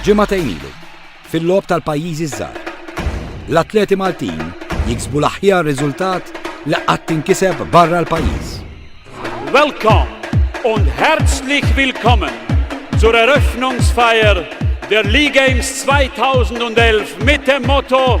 Ġimgħa ilu, fil-lob tal-pajjiżi żgħar, l-atleti Maltin jiksbu l-aħjar riżultat li qatt tinkiseb barra l-pajjiż. Welcome und herzlich willkommen zur Eröffnungsfeier der League Games 2011 mit dem Motto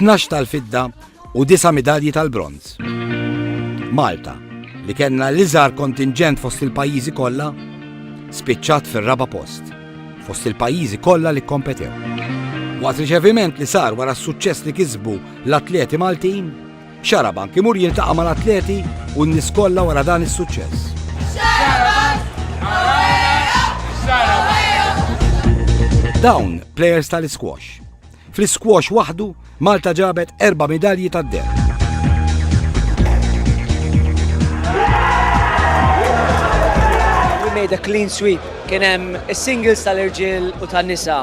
12 tal-fidda u 9 midalji tal-bronz. Malta, li kellna l-iżgħar kontingent fost il-pajjiżi kollha, spiċċat fir-raba post fost il-pajjiżi kollha li kompetew. Waqt riċeviment li sar wara s-suċċess li kisbu l-atleti Maltin, xara banki mur jiltaqa' mal-atleti u n-nies kollha wara dan is-suċċess. Dawn players tal-squash Fl-isquash waħdu, Malta ġabet erba' midalji tad-deheb. We made a clean sweep. Kien hemm is-singles tal-irġiel u tan-nisa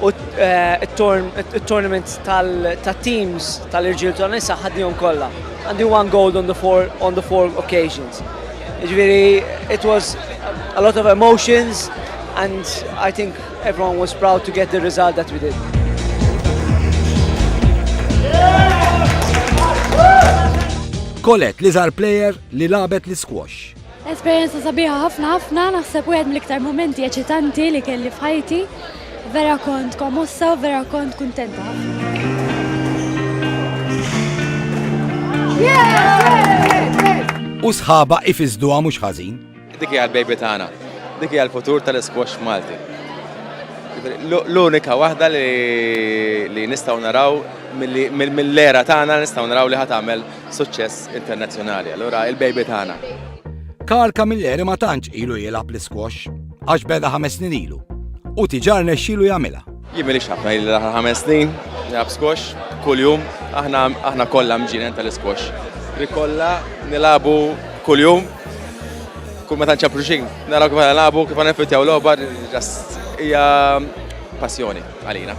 u eh, t-tournament tal-teams tal-irġiel u tan-nisa ħadnihom kollha. Għandi one gold on the four, on the four occasions. Ġifieri, it was a lot of emotions and I think Everyone was proud to get the result that we did. Kolet li zar player li labet li squash. Esperienza sabiħa ħafna ħafna, naħseb u mill-iktar momenti eċitanti li kelli fħajti. Vera kont komossa u vera kont kontenta. U sħaba ifizdu għamux ħazin. Dik hija l-baby tagħna. Dik hija l-futur tal-isquash Malti. L-unika waħda li nistgħu naraw mill-era tagħna nistgħu naraw li ħat għamel suċċess internazzjonali. Allura il-baby tagħna. Karl Camilleri ma tantx ilu jilgħab l-isquash għax beda ħames snin ilu u tiġar nexxilu jagħmilha. Jien m'iniex ħafna ili l-aħħar ħames snin nilgħab squash kuljum, aħna aħna kollha mġienen tal-isquash. Li kollha nilagħbu kuljum, kull meta nċappru xejn, naraw kif nilagħbu, kif niffittjaw logħba, just hija passjoni għalina.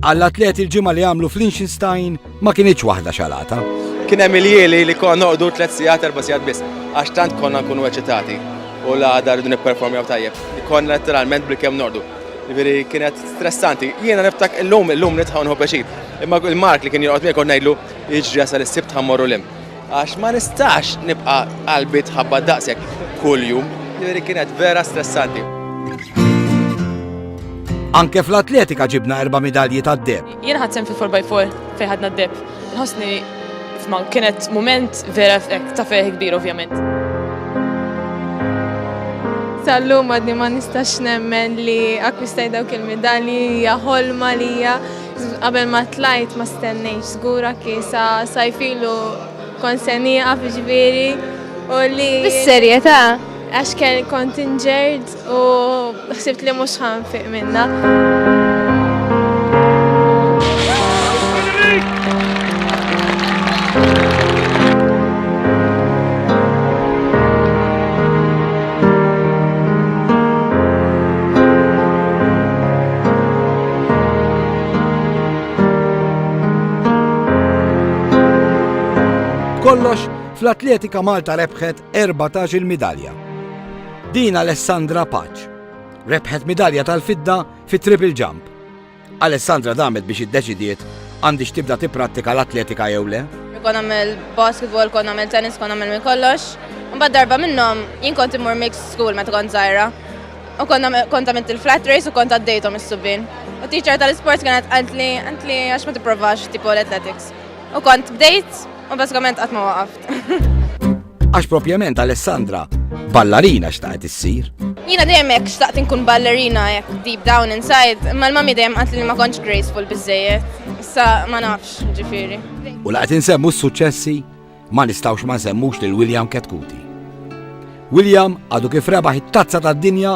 Għall-atleti l-ġimgħa li għamlu fl-Liechtenstein Ma kinitx waħda xalata. Kien hemm il-jieli li konna noqogħdu tliet sigħat erba' sigħat biss, għax tant konna nkunu eċitati u la għadha rridu nipperformjaw tajjeb. Konna letteralment bil-kemm nordu. Ġifieri kienet stressanti. Jiena niftak illum illum nitħaw nħu peċi. Imma il-Mark li kien joqgħod miegħek ngħidlu jiġri jasal is-sibt ħammorru lim. Għax ma nistax nibqa' qalbi tħabba daqshekk kuljum. Ġifieri kienet vera stressanti. Anke fl-atletika ġibna erba' midalji tad-deb. Jien ħadsem fi 4x4 fejn ħadna d-deb. Nħossni f'ma kienet moment vera ta' ferħ kbir ovvjament. Tal-lum għadni ma nistax nemmen li akkwistaj dawk il-medalji hija ħolma li hija qabel ma tlajt ma stennejx żgura kisa sajfilu konsenija fiġviri u li. Bis-serjetà? Għax kien kontingert U ħsibt li mhux ħanfiq minna. kollox, fl-atletika Malta rebħet 14-il midalja. Din Alessandra Paċ rebħet midalja tal-fidda fit-triple jump. Alessandra damet biex iddeċidiet għandix tibda tipprattika l-atletika jew le? Kon għamil basketball, kon għamil tennis, kon għamil minn kollox. Mbad darba minnom, jien kont imur mix school meta kont zaħira. U kont għamilt il-flat race u kont għaddejtom is-subin. U teacher tal-sports kienet għantli, għantli għax ma t-provax tipo l-athletics. U kont bdejt, U bażikament qatt ma waqaft. Għax propjament Alessandra ballarina xtaqet issir. Jina dejjem hekk xtaqt inkun ballerina hekk deep down inside, imma l-mami dejjem qatt li ma kontx graceful biżejjed. Issa ma nafx ġifieri. U laqgħet insemmu s-suċċessi ma nistgħux ma nsemmux lil William Ketkuti. William għadu kif rebaħ it-tazza tad-dinja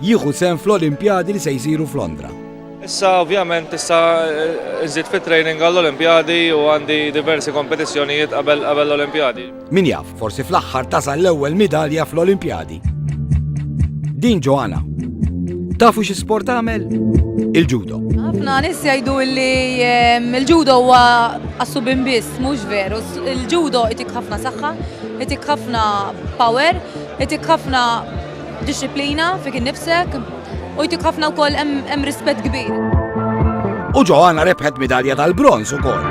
jieħu sehem fl-Olimpjadi li se jsiru f'Londra. Issa ovvjament issa nżid fit-training għall-Olimpjadi u għandi diversi kompetizzjonijiet qabel qabel l-Olimpjadi. Min jaf, forsi fl-aħħar tasal l-ewwel midalja fl-Olimpjadi. Din Joanna. Tafu xi sport tagħmel? Il-judo. Ħafna nies jgħidu li ehm, il-judo huwa assubin biss, mhux veru. Il-judo itik ħafna saħħa, itik ħafna power, itik ħafna Dixxiplina fik innifsek u jtik ħafna wkoll hemm rispett kbir. U Ġoanna rebħet midalja tal-bronż ukoll.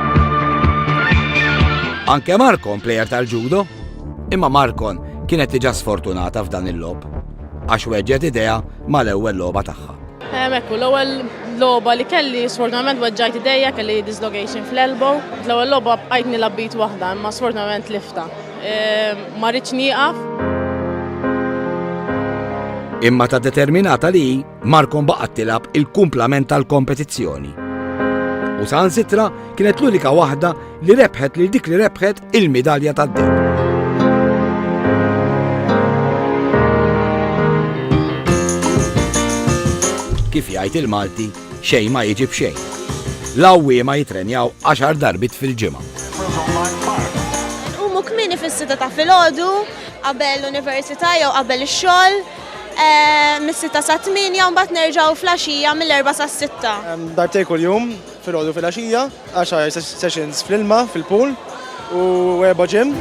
Anke Markon plejer tal-ġudo, imma Markon kienet diġà sfortunata f'dan il-lob għax weġġet idea mal-ewwel logħba tagħha. Ekku, l-ewwel logħba li kelli sfortunatament weġġajt idejja kelli dislocation fl-elbow. L-ewwel logħba bqajt nilgħab b'id waħda imma sfortunatament lifta. Ma rridx nieqaf. Imma ta' determinata li Markom baqgħet tilab il-kumplament tal-kompetizzjoni. U sansitra kienet l-unika waħda li rebħet lil dik li rebħet il-midalja tad-deb. kif jgħid il-Malti Xejn ma jiġi b'xejn. L-għawwiema jitrenjaw għaxar darbiet fil-ġimgħa. Inqumu kmieni fis-sitta ta' filgħodu qabel l-università jew qabel ix-xogħol eh, mis-sitta sa tmienja u mbagħad nerġgħu fl-għaxija mill-erba' sas-sitta. Darbtej kuljum, filgħodu fil-għaxija. Għaxar sessions fl-ilma, fil-pool u erba' gym.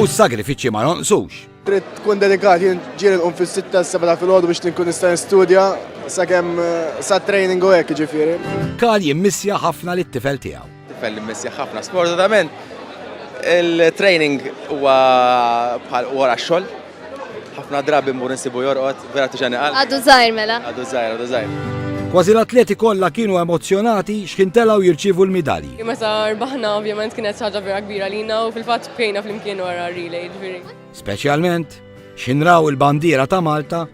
u s-sagrifiċċji ma jonqsux. Trid tkun dedikat jien ġiel nqum fis-sitta s-seba' filgħodu biex tinkun nista' nistudja sakemm eh, sa training u hekk ġifieri. Karl jimmissja ħafna lit-tifel tiegħu. Tifel li mmissih ħafna. Sfortunatament il-training huwa bħal wara x-xogħol. Ħafna drabi mmur insibu jorqod, vera tiġani qalb. Għadu żgħir mela. Għadu żgħir, għadu żgħir. Kważi l-atleti kollha kienu emozzjonati x'ħin telgħu jirċievu l-midalji. Meta rbaħna ovvjament kienet xi ħaġa vera kbira lina u fil-fatt bkejna flimkien wara r-relay, ġifieri. Speċjalment x'ħin raw il-bandiera ta' Malta